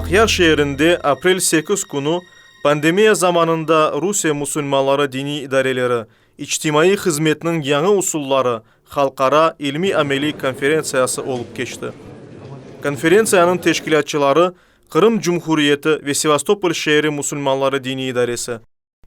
Aqyar şeerinde aprel sekiz künü pandemiya zamanında Rusiye musulmanları diniy idareleri, İçtimaiy hızmetniñ yañı usulları halqara ilmiy-ameliy konferentsiyası olıp keçti. Konferentsiyanıñ teşkilâtçıları Qırım Cumhuriyeti ve Sevastopol şeeri musulmanları diniy idaresi,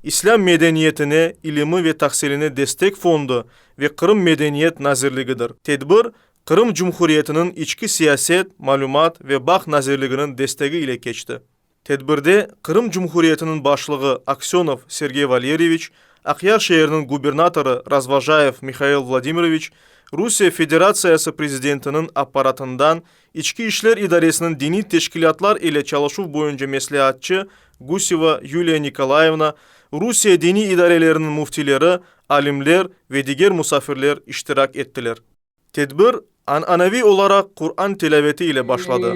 İslâm medeniyetine, ilimi ve tahsiline destek fondu ve Qırım Medeniyet nazirligidir. Tedbir Qırım Cumhuriyetiniñ İçki siyaset, malümat ve bağ nazirliginiñ destegi ile keçti. Tedbirde Qırım Cumhuriyetiniñ Başlığı Aksenov Sergey Valeriyeviç, Aqyar şeeriniñ gubernatorı Razvojayev Mihail Vladimiroviç, Rusiye Federatsiyası Prezidentiniñ Apparatından İçki işler idaresiniñ diniy teşkilâtlar ile çalışuv boyunca mesleatçı Guseva Yuliya Nikolayevna, Rusiye diniy idareleriniñ müftileri, alimler ve diger musafirler iştirak ettiler. Tedbir, an'anaviy olaraq Quran tilâveti ile başladı.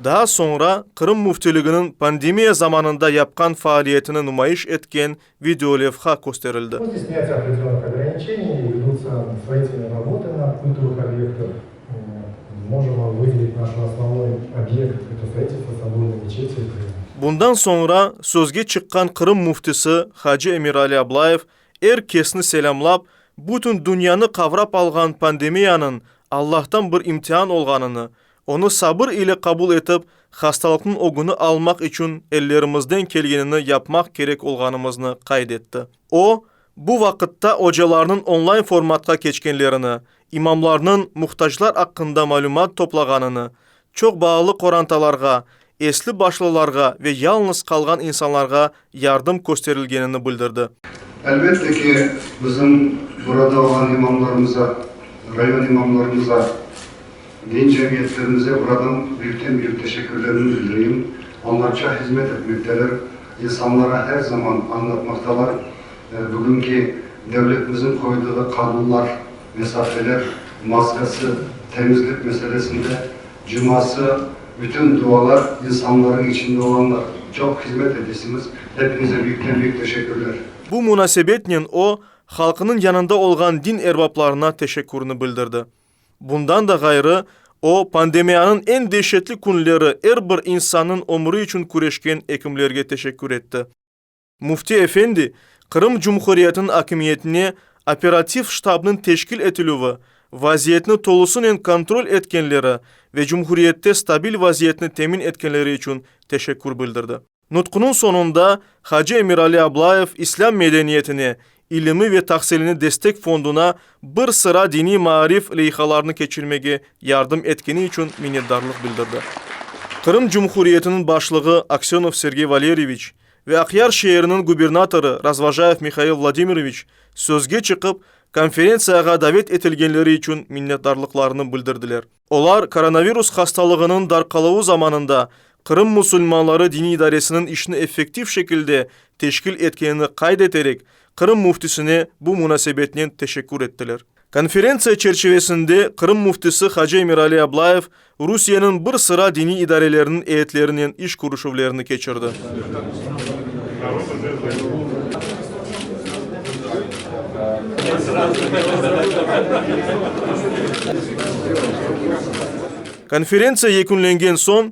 Daa soñra Qırım Müftiliginiñ pandemiya zamanında yapqan faaliyetini numayış etken videolevha kösterildi. Bundan soñra sözge çıqqan Qırım Müftisi hacı Emirali Ablayev er kesni selâmlap, bütün dünyanı qavrap alğan pandemiyanıñ Allahtan bir imtihan olğanını Onı sabır ile qabul etip, hastalıqnıñ ögüni almaq içün ellerimizden kelgenini yapmaq kerek olğanımıznı qayd etti. O, bu vaqıtta ocalarnıñ onlayn-formatqa keçkenlerini, imamlarnıñ muhtaclar aqqında malümat toplağanını, çoq balalı qorantalarğa, esli başlılarğa ve yalıñız qalğan insanlarğa yardım kösterilgenini bildirdi. Elbette ki, bizim burada olğan imamlarımıza, rayon imamlarımıza, din cemiyetlerimize buradan büyükten büyük teşekkürlerimi bildireyim. Onlarca hizmet etmekteler, insanlara her zaman añlatmaqtalar bugünki devletimizin qoyduğu qanunlar, mesafeler, maskası, temizlik meselesinde Cuması, bütün dualar insanlarnıñ içinde olanlar. Çoq hizmet etesiniz. Hepinize büyükten büyük teşekkürler. Bu munasebetnen o, halqnıñ yanında olğan din erbaplarına teşekkürni bildirdi. Bundan da ğayrı, o, pandemiyanıñ eñ deşetli künleri er bir insannıñ ömüri içün küreşken ekimlerge teşekkür etti. Müfti efendi, Qırım Cumhuriyetiniñ akimiyetine operativ ştabnıñ teşkil etilüvi, vaziyetni tolusınen kontrol etkenleri ve cumhuriyette stabil vaziyetni temin etkenleri içün teşekkür bildirdi. Nutqunıñ soñunda hacı Emirali Ablayev İslâm medeniyetine, ilimi ve tahsilini destek fonduna bir sıra diniy maarif leyhalarını keçirmege yardım etkeni içün minnetdarlıq bildirdi. Qırım Cumhuriyetiniñ Başlığı Aksönov Sergey Valeryeviç, Ve Aqyar şeeriniñ gubernatorı Razvojayev Mihail Vladimiroviç sözge çıqıp, konferentsiyağa davet etilgenleri içün minnetdarlıqlarını bildirdiler. Olar koronavirus hastalığınıñ darqalıvı zamanında Qırım musulmanları diniy idaresiniñ işini effektiv şekilde teşkil etkenini qayd eterek, Qırım müftisine bu munasebetnen teşekkür ettiler. Konferentsiya çerçivesinde Qırım Müftisi hacı Emirali Ablayev Rusiyeniñ bir sıra diniy idareleriniñ eyyetlerinen iş körüşüvlerini keçirdi. Konferentsiya yekünlengen soñ,